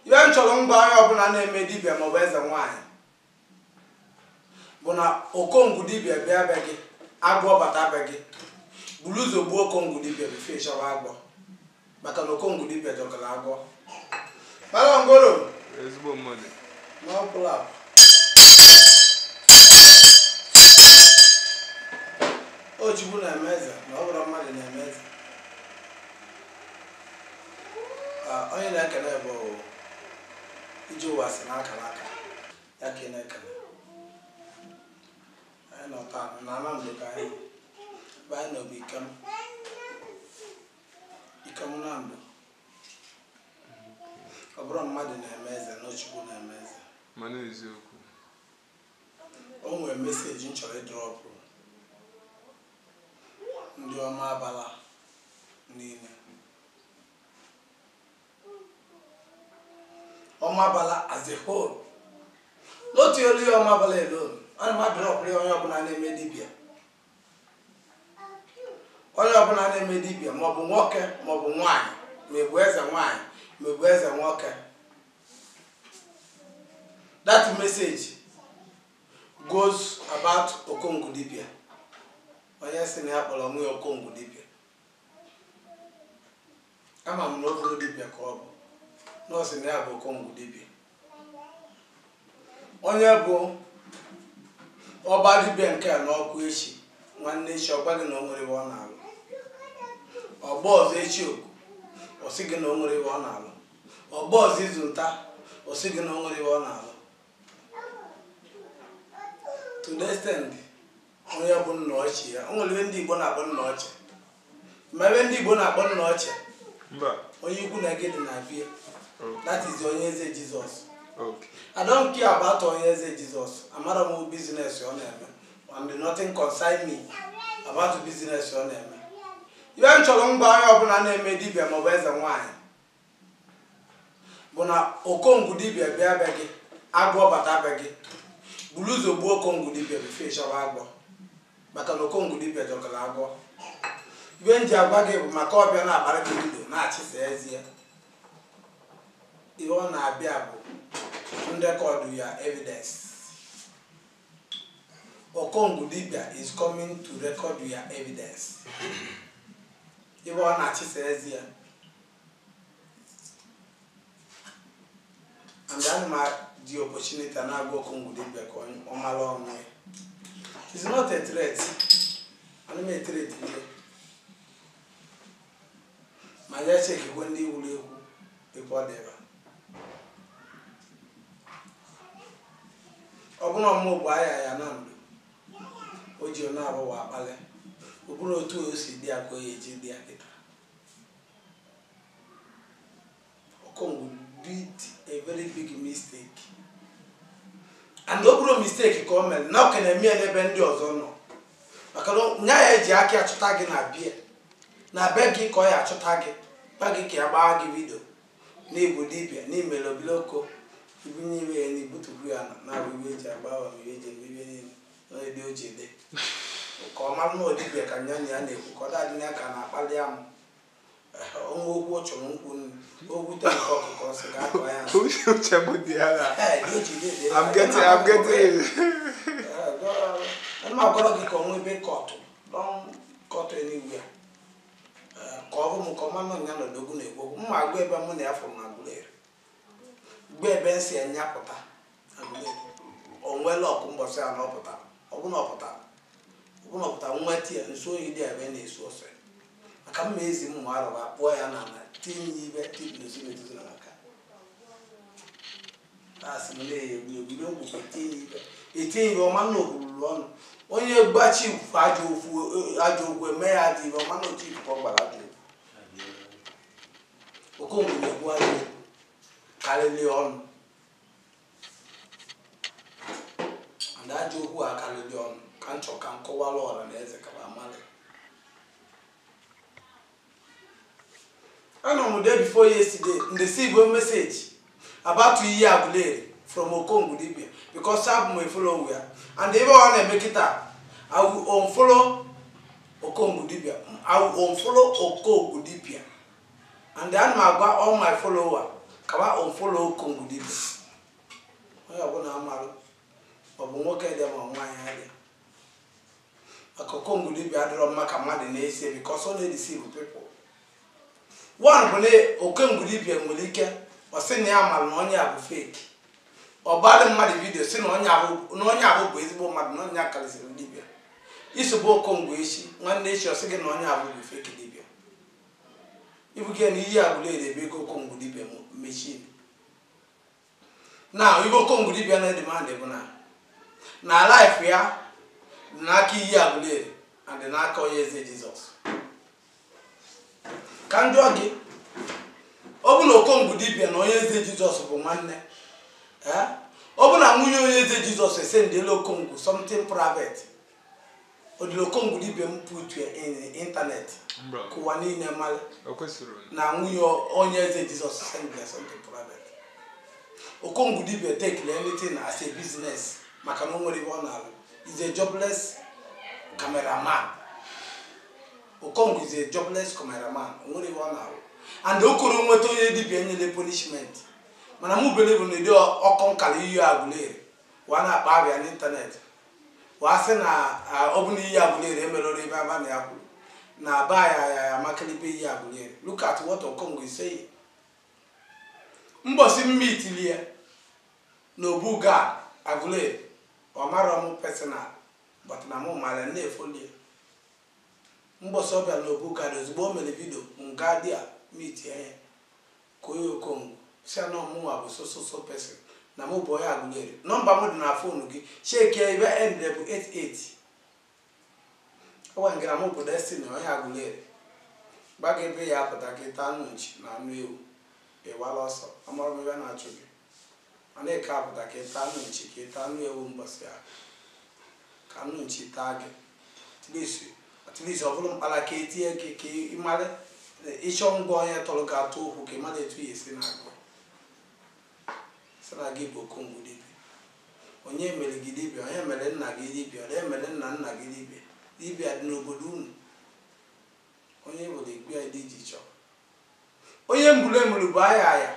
Ihe m chọrọ ngwa onye ọbụla na-eme dibịa maọbụ eze nwaanyị bụ na okongwu dibịa bịa be gị agwọ bata be gị buru ụzọ gbuo okongwu dibịa bifo ịchọwa agwọ maka na okongwu dibịa jọkara agwọ mara ngoro ezigbo mmadụ na ọ bụ na ọ Chukwu na-eme eze na ọ bụrọ mmadụ na-eme eze Ah, onye na-ekele bụ iji ụwa si n'akara aka ya ka ị na-ekele anyị nọ taa na Anambra ka anyị ebe anyị nọ bụ Ikem Ikem Nando ọ bụrọ mmadụ na-eme eze na ọ Chukwu na-eme eze mana eziokwu O nwere meseji m chọrọ ịdrọpụrụ ndị Ọmabala niile. Ọmabala as a whole. Not only Ọmabala alone, ana m adrọpụrụ ya onye ọbụla na-eme dibịa. Onye ọbụla na-eme dibịa maọbụ nwoke maọbụ nwaanyị ma ị bụ eze nwaanyị ma ị bụ eze nwoke. that message goes about okongwu dibịa onye sị na ya kpọrọ onwe ya okongwu dibịa ama m na ọ bụrọ dibịa ka ọ bụ na ọ sị na ya bụ okongwu dibịa onye bụ ọ baa dibịa nke a n'ọkụ echi nwanne echi ọ gwa gị na o nwere ive ọ na-alụ ọ gbaa ọzọ echi oku ọ sị gị na o nwere ive ọ na-alụ ọ gbaa ọzọ izu nta ọ sị gị na o nwere ihe ọ na-alụ to the extent onye bụ nna ochie ya o nwere ihe ndị igbo na-akpọ nna ochie ma ive ndị igbo na-akpọ nna ochie mba onye ikwu nne gị dị na vie okay that is Onyeze jizọs okay I don't care about Onyeze Jizọs. Amarọ mụ business ọ na-eme. And nothing concern me about business ọ na-eme. Ive m chọrọ ngwa onye ọbụla na-eme dibịa maọbụ eze nwaanyị bụ na okongwu dibịa bịa be gị agwọ bata be gị buru ụzọ gbuo okongwu dibịa bifo ịchọwa agwọ maka na okongwu dibịa jọkara agwọ ive m ji agwa gị bụ maka ọ bịa na-akpara gị ndụ na-achịsa eze ihe ọ na-abịa bụ nrekọdụ your evidence okongwu dibịa is coming to record your evidence ebe ọ na-achịsa ezi ya and ana m eji opportunity na-agwa Okongwu dibia ka ọ mara onwe ya is not a threat ana m etret ihe ma ya chekikwe ndị wuru ekwu ebe ọ dịba ọ bụrụ ọmụgwọ ahịa ya na ndụ o ji onye arụ ụwa akpalị ọ bụrụ otu o si dị ya ka ọ ya-eji dị ya kịta Okongu did a very big mistake and ọ bụrụ mistake ka o mere na ọ ka na-eme ya n'ebe ndị ọzọ nọ maka na nya ya-eji aka achụta gị na bie na be gị ka ọ ya achụta gị gba gị ka ya gbaa gị vidio N'ịbụ dibịa, n'imere obere oko, ibunye iwe ya n'igbutubu ya na na-abụ iwe eji agba awa ma iwe eji eme iwe niile nọ ebe o ji ede. Ka ọ mara na ọ dibịa ka nya na ya na-ekwu ka ọ daadị na ya ka na-akpali amụ. Ehe, o nwee okwu ọ chọrọ nkwu nri, o gwute nke ọkụkọ ọ sị ka a kụọ ya nsị. Uche uche m dị ya na. Ehe, ihe o ji ede ede. I'm getting I'm getting it. Ana m agwara gị ka ọ nwee ebe kọtụ, don kọtụ anywhere. ka ọ bụ m ka ọma nọ nya na odogwu na-ekwu okwu mma agwa ebe mụ na ya fụrụ na Aguleri gwa ebe m sị ya nya pụta Aguleri o nwela ọkụ mbọsị ya na ọ pụta ọbụna ọ pụta ọbụna ọ pụta nweta ya nso oyi dị ebe na-esu ọsọ ya maka mma ezi m ma arụba kpụọ ya na ala tinye ya ibe tinye n'osimiri na maka asị m na-egbu egbu na ọgwụ ka etinye n'ibe etinye ibe ọma na okwururu ọnụ onye gbachi ifufe ajọ ofu ajọ okwu eme ya dị ibe ọma na otu ifufe ọ gbara ajọ okwu Okongu na-egbu ajọ okwu karịrị ọnụ na ajọ okwu a karịrị ọnụ ka m chọ ka m kọwara ọra na eze ka ba malị Anọ m day before yesterday and receive a message about ihe Aguleri from Okongu Dibia because abụ m follower ya and ebe ọ na-eme kịta I will unfollow Okongu Dibia I will unfollow Okongu Dibia and ana m agwa all my follower ka ba unfollow Okongu Dibia onye ọbụla amarụ ọ bụ nwoke dị ma nwaanyị adị Aka Okongu dibia adịrọ mma ka mmadụ na-eso because ọ na-edeceive people. One bụ na Okongu dibia nwere ike ọ sị na ya mara na onye a bụ fake. Ọ gbara mmadụ vidio sị na onye ahụ na onye ahụ bụ ezigbo mmadụ na onye a karịsịrị dibia. I sobe Okongu echi nwanne echi ọ sị gị na onye ahụ bụ fake dibia. Ibu gị na iyi Aguleri ebe ego Okongu dibia mechiri. na ive okongwu dibịa na-edimandị bụ na na life ya dị n'aka iyi Aguleri and dị n'aka onye eze jizọs ka m jụọ gị ọ bụ na okongwu dibịa na onye eze jizọs bụ nwanne ee ọ bụ na nwunye onye eze jizọs esendịela okongwu something private ọ dịlị okongwu dibịa m put ya in internet ka ụwa niile mara na nwunye onye eze jizọs send ya something private okongwu dibịa take anything as a business maka na o nwerọ ihe ọ na-alụ is a jobless cameraman okongwu is a jobless cameraman o nwerọ ihe ọ na-alụ and ọ karọ nweta onye dibịa nyere punishment mana mụ believe na ụdị ọkọ nkalị iyi Aguleri wa na-akpa abịa n'ịntanetị wa sị na ọ bụ na iyi Aguleri emerụrụ ive aba na ya kwuru na aba ya ya ya makalịbe iyi Aguleri look at what Okongwu is saying mbọsị m meetili ya na Obu Gad Aguleri ọ marọ m personal but na mụ mara na-efoli ya mbọsị ọ bịara na Obu Gad ozugbo o mere video m gaa there meetie ya Kpọọ ya Okongwu, sị ya na ọ mụnwa bụ so so so person, na mụ bụ onye Aguleri. Number mụ dị na phone gị, checkie ya, ive endịrị bụ eight eight. Ọ gwara m gị na mụ bụ Destiny, onye Aguleri. Gbaga ebe ya apụta ka ị taa anụ nchi na anụ ewu, ị wala ọsọ, amarọ m ive na-achụ gị. Ọ na-eke apụta ka ị taa anụ nchi, ka ị taa anụ ewu mbọsị ahụ. Ka anụ nchi taa gị. At least at least ọ bụrụ mkpala ka e tie gị ka ị mara ịchọ ngwa onye tọrọ gị atụ okwu ka ị mara etu ya esi na-agụ. Sị na gị bụ okongwu dibịa. Onye mere gị dibịa? Onye mere nna gị dibịa? Onye mere nna nna gị dibịa? Dibịa dị n'obodo unu. Onye bụrụ ikpe ya dị iche iche. Onye m blamelụ bụ Aya Aya.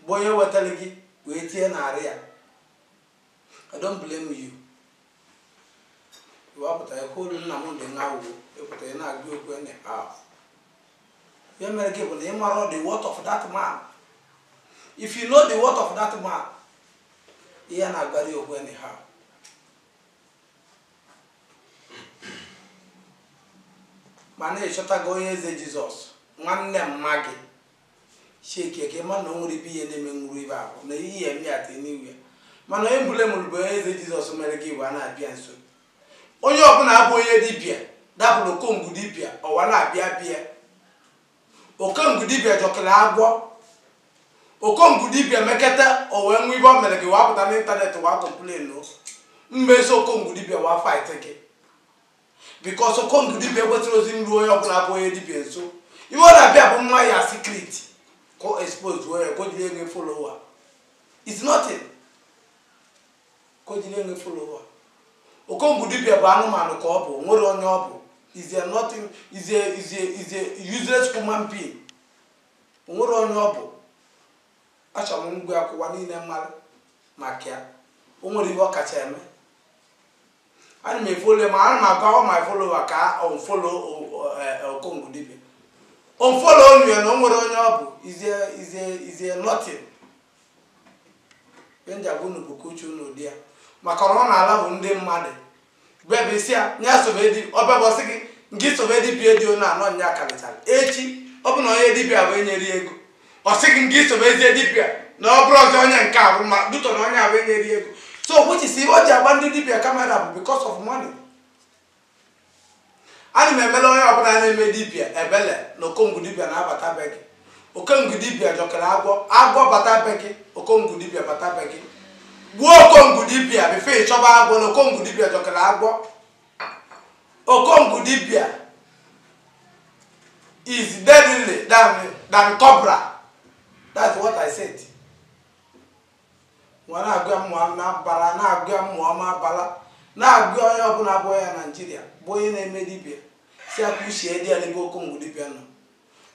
bụ onye wetara gị wee tie n'arụ ya I don't blame you wa pụta ekwu olu nna m dị n'awụwo ị pụta ị na-agụ okwu anyhow ihe mere gị bụ na ị marọ the worth of that man if you know the worth of that man ihe na-agbarị okwu anyhow mana ị chọtago onye eze jizọs nwanne mma gị checkie ka ị ma na o nwere ibe ihe na-eme na river ahụ na ihe eme ya at anywhere mana onye m blamelụ bụ onye eze jizọs mere ka wa na-abịa nso onye ọbụla abụ onye dibịa dabelụ okongwu dibịa ọwa na-abịa bịa okongwu dibịa jọkalị agwọ okongwu dibịa meketa o wee nwe ive ọ mere gị wa pụta n'ịntanetị wa complain mmeso okongwu dibịa wa fightie gị because okongwu dibịa ekwesịrọzị iru onye ọbụla bụ onye dibịa nso ihe ọ na-abịa bụ ịma ya secret ka o expose wee ya ka o jiri enwe follower is nothing ka o jiri enwe follower okongwu dibịa bụ anụmanụ ka ọ bụ o nwerọ onye ọ bụ is a nothing is a is a is a useless human being O nwerọ onye ọ bụ achọrọ m ngwa ka ụwa niile mara maka ya o nwere ihe ọ kacha eme ana m efollow ma ana m agwa all my follower ka unfollow o- eh, okongwu dibia unfollow nụ ya na o nwerọ onye ọ bụ is a is a is a nothing ihe m ji agwa unu bụ ka uche unu dị ya maka na ọ na-alafu ndị mmadụ bebe sị ya na ya so bụ dị ọ bịa ọ sị gị na gị so bụ dibia dị onu anọ nya karịchara echi ọ bụ na onye dibia bụ enyere ya ego ọ sị gị na gị so bụ eze dibịa na ọ bụrọzị onye nke a bụ ma dutọ na onye abụ enyere ego so which is o ji agba ndị dibịa kamera bụ because of money ana m emelụ onye ọbụla na-eme dibịa ebele na okongwu dibịa na-abata be gị okongwu dibịa jọkara agwọ agwọ bata be gị okongwu dibịa bata be gị gbuo okongwu dibịa before ị chọba agwọ na okongwu dibịa jọkara agwọ Okongwu Dibia is deadly than, than cobra. That's what I said. Nwa na-agwa mmụọ na-abara na-agwa mmụọ ma abala na-agwa onye ọbụla bụ ya Naijiria bụ onye na-eme dibia sị ya ka uche dị ya n'ebe Okongwu Dibia nọ.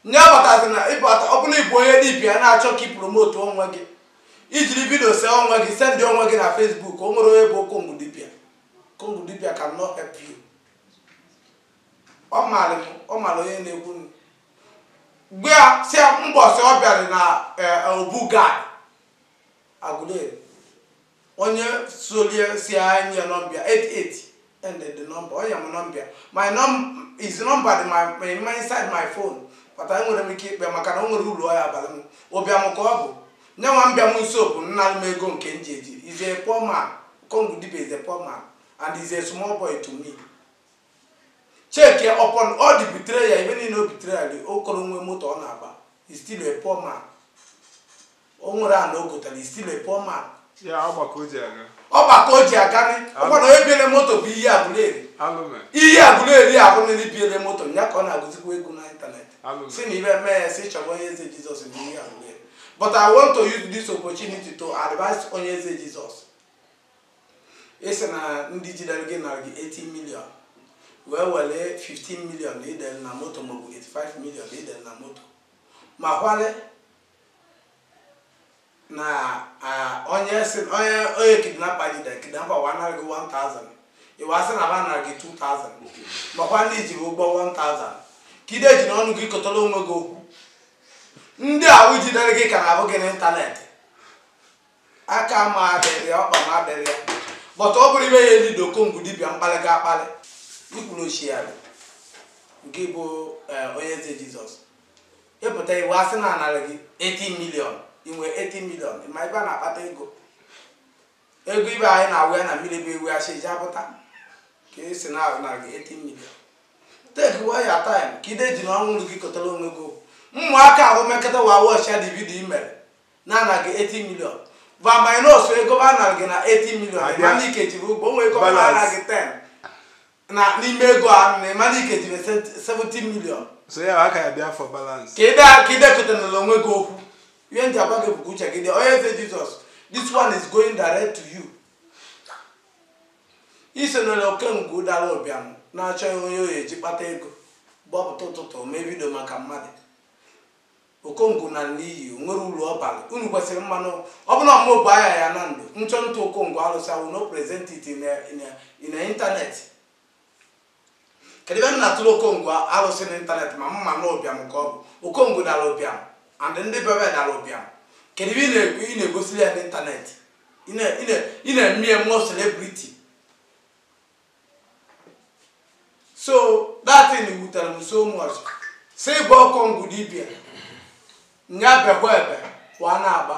Nya abatazịna ịbata ọ bụ na ị bụ onye dibia na-achọ ka ị promote onwe gị i jiri vidio see onwe gị sendị onwe gị na Facebook o nwerọ onye bụ Okongwu Dibia Okongwu dibia cannot help you. Ọ maara m, ọ maara onye na-ekwu. M gwa ya sị ya mbọsị ọ bịara na eh, Obu Gad Aguleri onye solie si a nye ya number ya 88 and the number o nye m number ya my num is number dị my, my, my inside my phone but enwerọ m ike ịkpọ ya maka na o nwerọ ulu ọ ya-abalụ m ụbịam ka ọ bụ Nyanwa bịa m nso bụ ịnalụ m ego nke m ji eji. Is a poor man. Okongwu Dibia is a poor man and is a small boy to me. Check ya upon all the betrayal, ibe niile o betrayal gị, ọ karọ nwe moto ọ na-agba. Is still a poor man. O nwerọ ana o gotara, is still a poor man. Ya ọkpa ka o ji aga. Ọkpa ka o ji aganị, ọkwa na onye biele moto bụ ihe Aguleri. Alụme. ihe Aguleri a bụ onye biele moto, ya ka ọ na-agụzikwa egwu n'ịntanetị. Alụme. Si na ibe mee ya, si chọba onye Eze Jesus bụ ihe Aguleri. But I want to use this opportunity to advise Onyeze Jesus. Ị sị na ndị jidere gị nara gị 80 million wee were 15 million na idere na moto maọbụ 85 million na idere na moto makwalụ na ah, onye si onye onye kidnapper jidere kidnapper wa nara gị 1000 ịwa sị na ba nara gị 2000 makwa na i ji ba ụgwọ 1000 ka ide ejina ọnụ gị kọtara onwe gị okwu ndị ahụ jidere gị ka na-ahụ gị n'internet aka m adịrọ ya ọkpa m adịrọ ya but ọ bụrụ ibe ya eli Okongu dibịa m kpalịa gị akpalị ikwuru ochie ya ngị bụ Onyeze Jesus ị pụta iwu asị na a nara gị 80 million i nwe 80 million ị ma ebe a na-akpata ego Ego ibe anyị na-awụ ya na mmiri ebe ewu asị eji apụta ka ị sị na a nara gị 80 million take kwa your time ka ide ejina ọnụ gị kọtara onwe gị ụmụaka ahụ mekọta wa watchịa the video i mere na a nara gị 80 million va minus ego ba nara gị na 80 million ma na ị ka ji ba ụgwọ onwe ego ba nara gị ten na n'ime ego a na ị ma na ị ka ji 70 million so ya ka ya-abịa for balance ka ide ka ide kọtanala onwe gị okwu ihe m ji agwa gị bụkwa uche gị dị Onyeze Jesus this one is going direct to you ị sị na Okongu dara ụbịam na-achọ onye ọ ya-eji kpata ego gbọpụta ụtụtụ mee video maka mmadụ Okongu nal n'iyi, o nwere ulu ọ balụ. Unu kwesiri ịma na. Ọ bụ na ọ mụ bụ aya ya na ndụ. M chọọ ịtụ Okongu alụsị I will not present it in a, in a, in a internet. Kedu ebe m na-atụrụ Okongu alụsị na internet ma m ma na ụbịam ka ọ bụ? Okongu dara ụbịam and ndị be ba dara ụbịam. Kedu ebe ị na-ekwu ị na-egosiri ya n'internet? Ị na- ị na- ị na-eme ya more celebrity. so that thing wutere m so much si bụ Okongu dibia nya bekwa ebe wa na-agba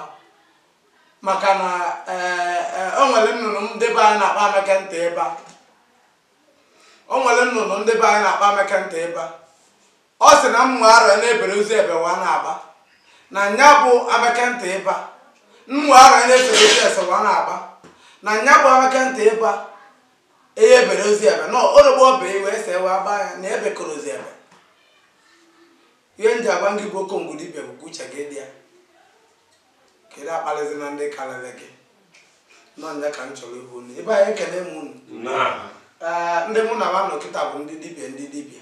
maka na eh, eh, o nwere nnụnụ ndị be anyị na-akpọ amaka ntị ebe a o nwere nnụnụ ndị be anyị na-akpọ amaka ntị ebe a ọ sị na mma ara na-ebere ozi ebewa na-agba na nya bụ amaka ntị ịba mma ara na-ebere ozi esewa na-agba na nya bụ amaka ntị ịba eye ebere ozi ebe na orogbo ọba iwe ese ewe agba ya na ebe koro ozi ebe ihe m ji agwa gị bụ Okongu dibia bụ ka uche gị dị ya ka ide akpalịzina ndị karịrị gị nọ nya ka m chọrọ ihu unu ibe anyị ekele m unu Ee, ndị mụ na ha nọ kịta bụ ndị dibia ndị dibia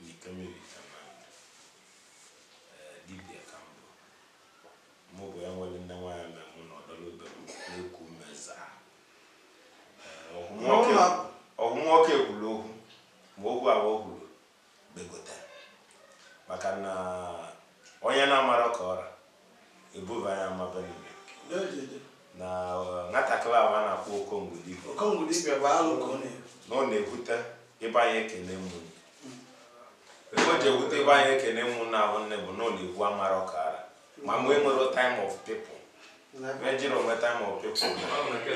Njikamiri Command, Ee, dibia ka m bụ. Mụ bụ ya nwere nne nwaanyị mere mụ na ọdọrọ ibe m na-eku ume zaa. Ee, ọhụ nwoke- N'ụlọ. ọhụ nwoke kwuru okwu, ma okwu ahụ o kwuru begote. Maka na onye na-amarọ ka ọ ra, ebuba ya ama be nne na eh, nwatakịrị ahụ a na-akpọ okongwu dibịa okongwu dibịa bụ alụ ka ọ na-ebu na ọ na-ewute ibe anyị ekene mụ ife o ji ewute ibe anyị ekene mụ na ahụ nne bụ na ọ na-ekwu amara ọkara ma mgbe e nwere time of people mejiri onwe time of people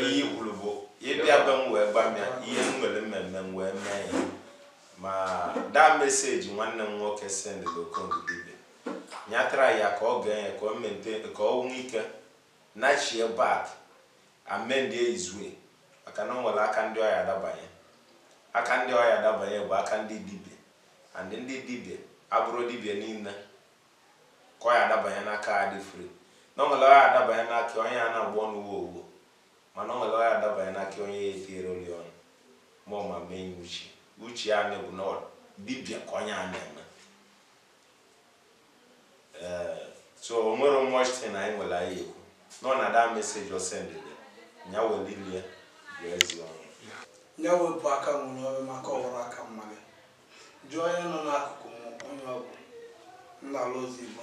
ihe i kwuru bụ ịbịa be m wee gba m ya ihe m nwere mmemme m wee mee ya ma that message nwanne m nwoke sendịrị okongwu dibịa ya try ya ka ọ gee ya ka ọ mente ka o nwee ike nachie back amendie his way maka na o nwere aka ndị ọ ya-adabanye aka ndị ọ ya-adabanye bụ aka ndị dibịa and ndị dibịa abụrọ dibịa niile ka ọ ya-adabanye n'aka ha dị free na o nwere ọ ya-adabanye n'aka onye a na-agba ọnụ uwe owuwo mana o nwere ọ ya-adabanye n'aka onye ya etinyere oli ọnụ ma ọ ma mee ya uche uche ya na-ebu na dibịa ka onye a na-eme ee so o nwerọ much thing anyị nwere anyị ekwu nọ na that message o sendịrị ya weli ile ya gụọ eze ọnụ ya wepụ aka enwe n'ofe maka ọ wụrụ aka mmadụ jụọ onye nọ n'akụkụ m onye ọ bụ nna ala ozi igbo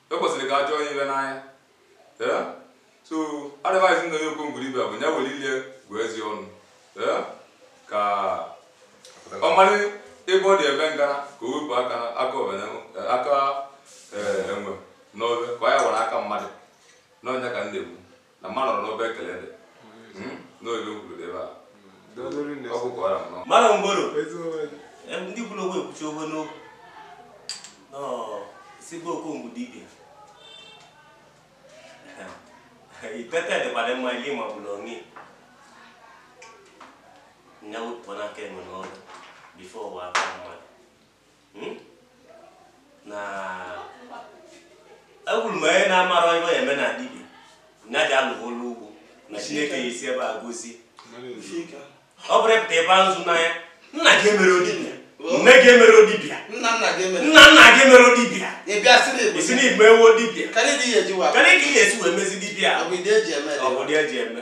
e kwesịrị ka a chọọ ya ibe n'anya ee so advice m na-enye okongwu dibịa bụ ya were ile ya gụa eze ọnụ ee ka ọ mara ebe ọ dị eme ngana ka o wepụ aka aka ọbana aka ee, enwe n'ofe ka ọ ya were aka mmadụ na ọ nya ka m na-ekwu na mmadụ nọrọ n'obe ekele dị Hmm, n'oge o kwuru dị ebe a ọ bụ ka ọ ra m nọ mara mgboro Em, ndị kwuru okwu ekwuchie okwu n'okwu Nọ, sị gị okongwu dibịa itete dịkwara mma ihe ma bụrụ onye nya wepụ aka enwe n'ofe before ọ ghọọ aka mmadụ hmm? na ekwuru m onye na-amarọ ihe eme na dibịa nya jee lụba ọlụ ugbo na chineke ya-esi ebe a gọzie ọ bụrọ ịpụta tebe nzu n'anya nna gị emerọ dibịa nne gị emerọ dibịa nna nna gị emerọ dibịa isi na igbe ewu dibịa kedụ ka ị ya-esi wee mezi dibịa ọ bụ dị eji eme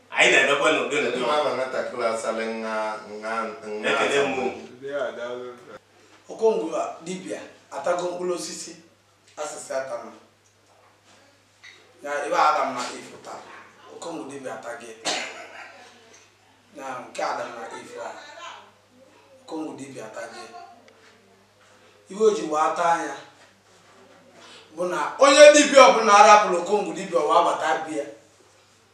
anyị na-emekwa n'ụdị Kedu n'ụdị ma ama nwatakịrị asali nha nha nha ekele asambodo? mmụọ Ndị a daalụ. okongwu dibịa atago mkpụrụ osisi a sị sị atana na ife Adam na Eve taa okongwu dibịa ataghị na nke Adam na Eve a okongwu dibịa ataghị ife o ji wee ata nya bụ na onye dibịa ọbụla arapụrụ okongwu dibịa wee abata bịa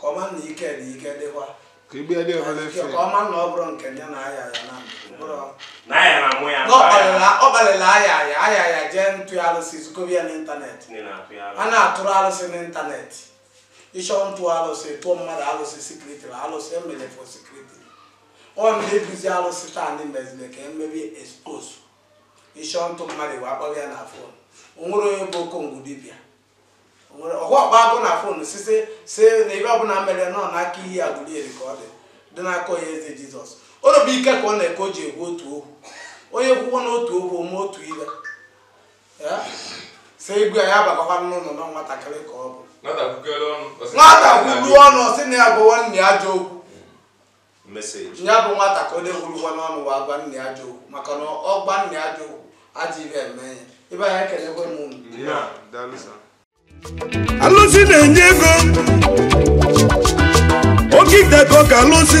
Ka ọ ma na ike dị ike dịkwa. Ka igbe ya dị ọma n'efe. Ka ọ ma na ọ bụrụ nke ya na aya ya na mkpụrụ. Na aya na mụ ya. Ọ gbalịla aya ya aya ya jee ntụ ya alụsị zukọbi ya n'ịntanetị. A na-atụrụ alụsị n'ịntanetị. Ị chọọ ntụ alụsị tụọ mmadụ alụsị secretly na alụsị e mere for secret. Ọ na-ebuzi alụsị taa ndị mezili ka e mebe expose. Ị chọọ ntụ mmadụ wee akpọghị ya na fon. O nwere onye bụ Okongwu dibịa. nwere ọhụ ọkpa agụ na fon sị na ife ọbụla merenụ n'aka Iyi Aguleri ka ọ dị n'aka onye eze Jizọs oro bụ ike ka ọ na-eke o ji egwu otu okwu onye kwuwo n'otu okwu o mee otu ile sị egwu ya bagakwa n'ụlọ na nwatakịrị ka ọ bụ nwata kwukere ọnụ ọ sị na nwata ya bụ kwulu ọnụ sị na ya bụ nwanne ya ajọ okwu Nya bụ nwata ka o dewurugwa n'ọnụ wa agwa nne ya ajọ okwu maka na ọ gwa nne ya ajọ okwu ajọ ife eme ya ibe anyị ekelekwe m unu alụsị na-enye ego oke ite ka ọ ka alụsị